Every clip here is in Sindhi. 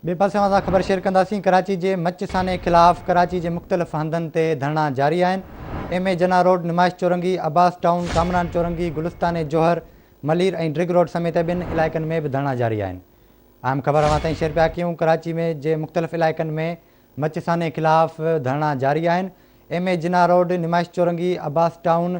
ٻئي پاسي اوهان سان خبر شيئر ڪنداسين ڪراچي جي مچ سانحي خلاف ڪراچي جي مختلف هنڌن تي ڌرڻا جاري آهن M A Jinnah road Numaish Chowrangi Abbas town Kamran Chowrangi Gulistan Jauhar Malir ۽ Drigh road سميت ٻين علائقن ۾ به ڌرڻا جاري آهن اهم خبر اوهان تائين شيئر پيا ڪيون ڪراچي ۾ جي مختلف علائقن ۾ مچ سانحي خلاف ڌرڻا جاري آهن M A Jinnah road Numaish Chowrangi Abbas town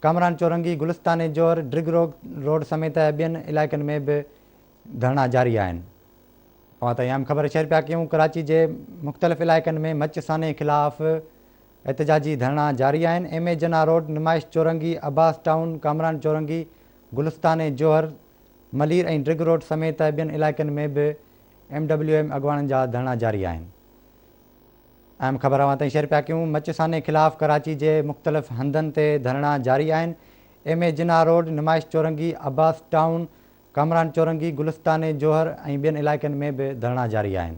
Kamran Chowrangi Gulistan Johar drug road سميت ٻين علائقن ۾ به ڌرڻا جاري آهن اوهان تائين اهم خبر شيئر پيا ڪيون ڪراچي جي مختلف علائقن ۾ مچ سانحي خلاف احتجاجي ڌرڻا جاري آهن M A Jinnah road Numaish Chowrangi Abbas town Kamran Chowrangi گلستاني جوهر ملير ۽ ڊرگ روڊ سميت ٻين علائقن ۾ به ايم ڊبليو ايم اڳواڻن جا ڌرڻا جاري آهن اهم خبر اوهان تائين شيئر پيا ڪيون مچ سانحي خلاف ڪراچي جي مختلف هنڌن تي ڌرڻا جاري آهن M A Jinnah road Numaish Chowrangi Abbas town Kamran Chowrangi, Gulistan جوهر ۽ ٻين علائقن ۾ به ڌرڻا جاري آهن.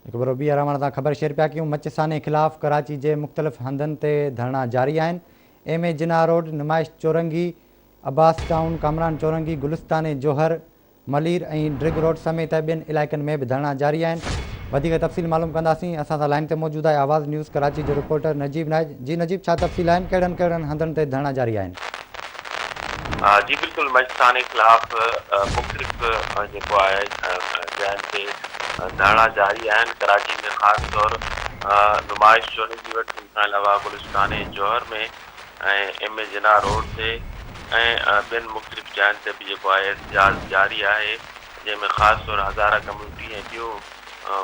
هڪ ڀيرو ٻيهر اوهان سان خبر شيئر پيا ڪيون مچ سانحي خلاف ڪراچي جي مختلف هنڌن تي ڌرڻا جاري آهن، M A Jinnah road, Numaish Chowrangi, Abbas town, Kamran Chowrangi, Gulistan Jauhar, Malir ۽ Drigh road سميت ٻين علائقن ۾ به ڌرڻا جاري آهن وڌيڪ تفصيل معلوم ڪنداسين اسان سان لائين تي موجود آهي آواز نيوز ڪراچي جو رپورٽر نجيب نائيد، جي نجيب ڇا تفصيل آهن ڪهڙن ڪهڙن هنڌن تي ڌرڻا جاري آهن. جي بلڪل مئچ ٿاني خلاف مختلف جيڪو آهي جاين تي ڌرڻا جاري آهن ڪراچي ۾ خاص طور نمائش چوني جي وٽ ان کان علاوه Gulistan ۽ Jauhar ۾ ۽ M A Jinnah road تي ۽ ٻين مختلف جاين تي به جيڪو آهي احتجاج جاري آهي جنهن ۾ خاص طور هزاره ڪميونٽي ۽ ٻيون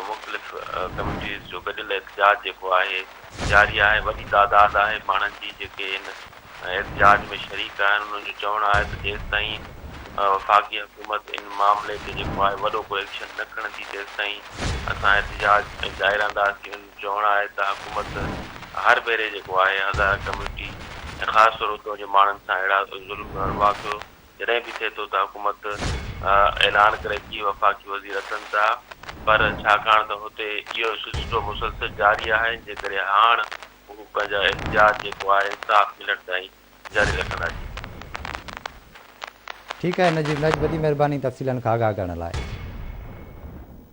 مختلف ڪميونٽيز جو گڏيل احتجاج جيڪو آهي جاري آهي وڏي تعداد آهي ماڻهن جي جيڪي ان احتجاج ۾ شريڪ آهن انهن جو چوڻ آهي ته جيستائين وفاقي حڪومت ان معاملي تي جيڪو آهي وڏو ڪو ايڪشن نه کڻندي تيستائين اسان احتجاج جاري رهنداسين انهن جو چوڻ آهي ته حڪومت هر ڀيري جيڪو آهي هزاره ڪميونٽي ۽ خاص طور اتو جي ماڻهن سان اهڙا ظلم ۽ واقعو جڏهن به ٿئي ٿو ته حڪومت اعلان ڪري ٿي وفاقي وزير اچن ٿا پر ڇاڪاڻ ته هتي اهو سلسلو مسلسل جاري آهي جنهن ڪري هاڻ هو پنهنجا اختيار جيڪو آهي انصاف ملڻ تائين جاري رکندا جي. ٺيڪ آهي نجيب نج وڏي مهرباني تفصيلن کان آگاهه ڪرڻ لاء.